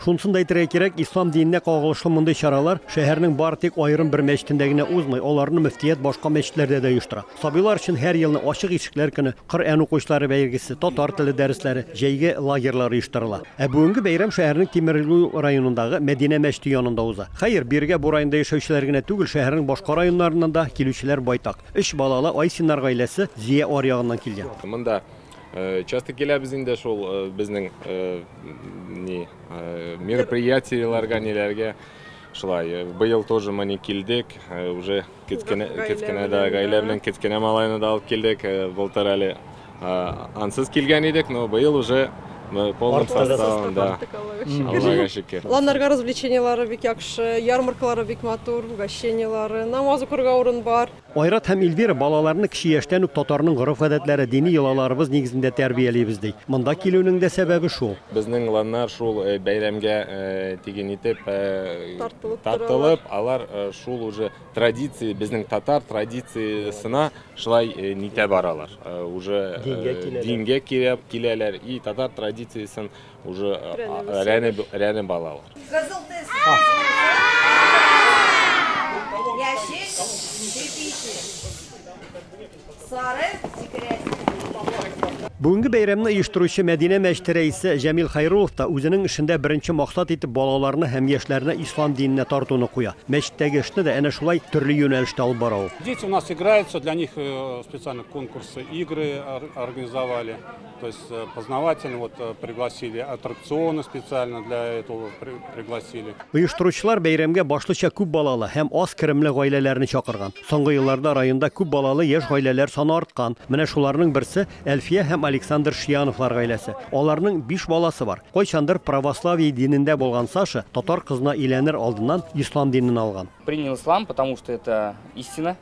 Шунысын да әйтергә кирәк, ислам диненә кагылышлы мондый чаралар шәһәрнең бары тик аерым бер мәчетендә генә узмый, аларны мөфтият башка мәчетләрдә дә оештыра. Сабыйлар өчен һәр елны Ачык ишекләр көне, Коръән укучылары бәйгесе, татар теле дәресләре, җәйге лагерьлар оештырыла. Ә бүгенге бәйрәм шәһәрнең Тимерлю районындагы Мәдинә мәчете янында уза. Хәер, бирегә бу районда яшәүчеләр генә түгел, шәһәрнең башка районнарыннан да килүчеләр байтак. Өч балалы Айсиннар гаиләсе Зия аръягыннан килгән. Монда Э, часто киләбез инде шул э, безнең э, ни мероприятиеләргә ниләргә шулай быел тоже мы не килдек уже кечкенә кечкенә да гаилә белән кечкенә малайны да алып килдек былтыр әле ансыз килгән идек но быел уже Мы полным составом, да. Аллага шөкер. Ланнарга развлечениялары бик яхшы, ярмаркалары бик матур, угощениялары, намаз укырга урын бар. Айрат һәм Ильвира, Балаларны кече яшьтән үк татарның гореф-гадәтләре, дини йолаларыбыз нигезендә тәрбиялибез, ди. Монда килүнең дә сәбәбе шул. Безнең ланнар шул бәйрәмгә тиген итеп тартылып, алар шул уже традиция, безнең татар традициясенә шулай нитә баралар. Уже дингә киләләр и татар традициясен Уже рәне балалар. Кызыл тез. Яшел чепите. Сары секрет. Бүгенге бәйрәмне оештыручы Мәдинә мәчете рәисе Җәмил Хайрулов та үзенең эшендә беренче максат итеп балаларны һәм яшьләрне ислам диненә тартуны куя. Мәчеттәге эшне дә әнә шулай төрле юнәлештә алып бара ул. Дети у нас играются, для них э, специально конкурсы, игры организовали. То есть э, познавательно вот э, пригласили, аттракционы специально для этого пригласили. Оештыручылар бәйрәмгә башлыча күп балалы һәм аз керемле гаиләләрне чакырган. Соңгы елларда районда күп балалы яшь гаиләләр саны арткан. Менә шуларның берсе Әлфия һәм Александр Шияновлар гаиләсе. Аларның 5 баласы бар. Кайчандыр православие динендә булган Саша татар кызына иләнер алдыннан ислам динен алган. Принял ислам, потому что это истина.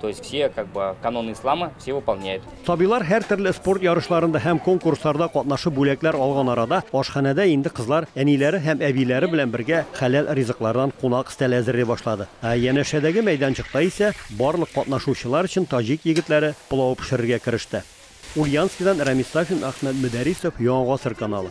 То есть все как бы каноны ислама все выполняют. Сабилар һәр төрле спорт ярышларында һәм конкурсларда катнашып бүләкләр алган арада ашханәдә инде кызлар әниләре һәм әбиләре белән бергә хәләл ризыклардан кунак стәле әзерли башлады. Ә янәшәдәге мәйданчыкта исә барлык катнашучылар өчен таҗик егетләре пылау пешерергә кереште. Ульяновскидан Рәмис Сафин, Әхмәт Мөдәрисов, Яңа гасыр каналы.